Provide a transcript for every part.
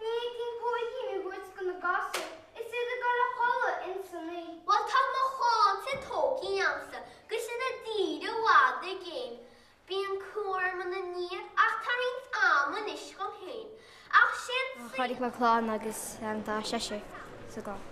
B'éigin póigín a thabhairt go na gasúir is iad ag dul a chodladh ins an oích'. Bhuel, tá mo sháith tóigthí agamsa, agus iad i dtír i bhfad i gcéin. Bíonn cúram ina ndiaidh ach tá roinnt ama anois dhom féin. Ach sin sin. Chaill mé clann agus tá seisear sa gclann.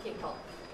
Cineál.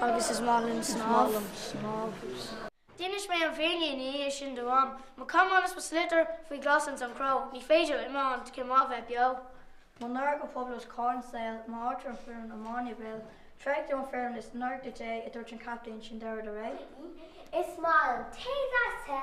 Agus is maith liom snámh. D'inis mé an fírinne ina dhiaidh sin do mham. Mo camán is mo sliotar faoi ghlas ins an chró. Ní féidir liom iomáint, cén mhaith a bheith beo. Mo náire go poiblí os comhair an saol, m'áit ar an fhoireann iomána i mbaol. Thréig tú an fhoireann is náir duit é, a dúirt an captaen, sin deireadh le ré. Is maith liom tae deas te.